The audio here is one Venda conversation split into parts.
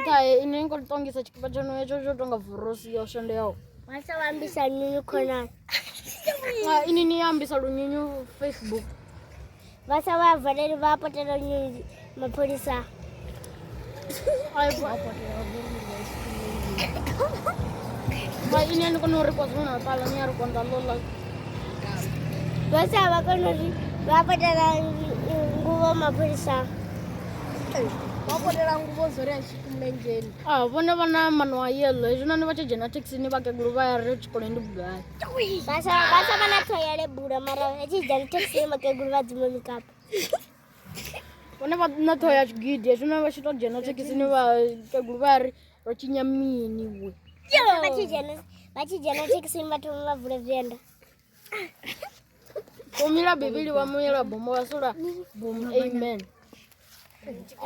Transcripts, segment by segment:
Nkae ine ngo tongisa tshikipa tsho no tsho tsho tonga vurosi yo shandeaho. Masa wambisa nyunyu khonani. Ah, ini ni ambisa lunyunyu Facebook. Vasa va valeli va potela nyunyu mapholisa. Ai bo. Ba ini ani kono ri kwa zona pala ni ari konda lola. Vasa va kono ri va potela nguvo mapholisa. Ah, vhone vha na mano a yello hezwinoni vha tshi dzhena thekhisini vhakegulu vha ya ri tshikoloni ndi vhugai vhasa vhasa vha na thoya lebula mara vha tshi dzhena thekhisini vhakegulu vha dzima mikapu vhone vha na ṱhoho ya tshigidi hezwinoni vha tshi to dzhena thekhisini vhakegulu vha ya ri ro tshinya mini vwe vha tshi dzhena vha tshi dzhena thekhisini vha thoma vha vula venda Kumila bibili wa muyela bomo wasula bomo amen.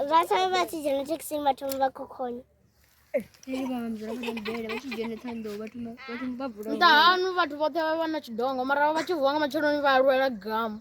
Vasa vati jana chikisimba tumba kukhona. Nda hanu vhathu vhoṱhe vha vha na tshidongo mara vha tshi vuwa nga matsheloni vha lwela gamu.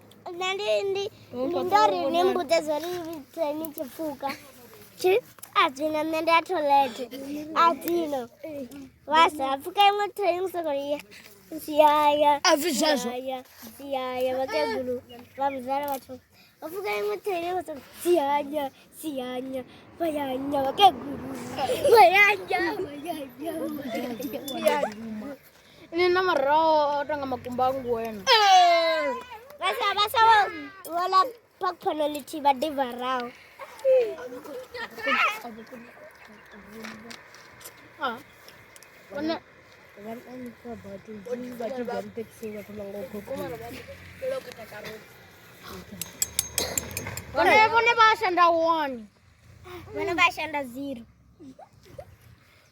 nṋe ndi ndi ndi ndo ri ni mbudze zwo ri vhidze ni tshi pfuka tshi a dzino nṋe ndi a tholete a dzino wa sa pfuka iṅwe thai ni soko ya yaya a pfi zwezwo yaya yaya vhakegulu vha muzala vhathu vha pfuka iṅwe thai vha soko siyanya siyanya vhayanya vhakegulu vhayanya vhayanya vhayanya Ini na maraho o tonga makumba a ngwena. Vhasa vhasa vho vhola phakhono lithihi vha ḓi vharaho. Ah. Vhona vhone vhone vha shanda wani. Vhone vha shanda zero.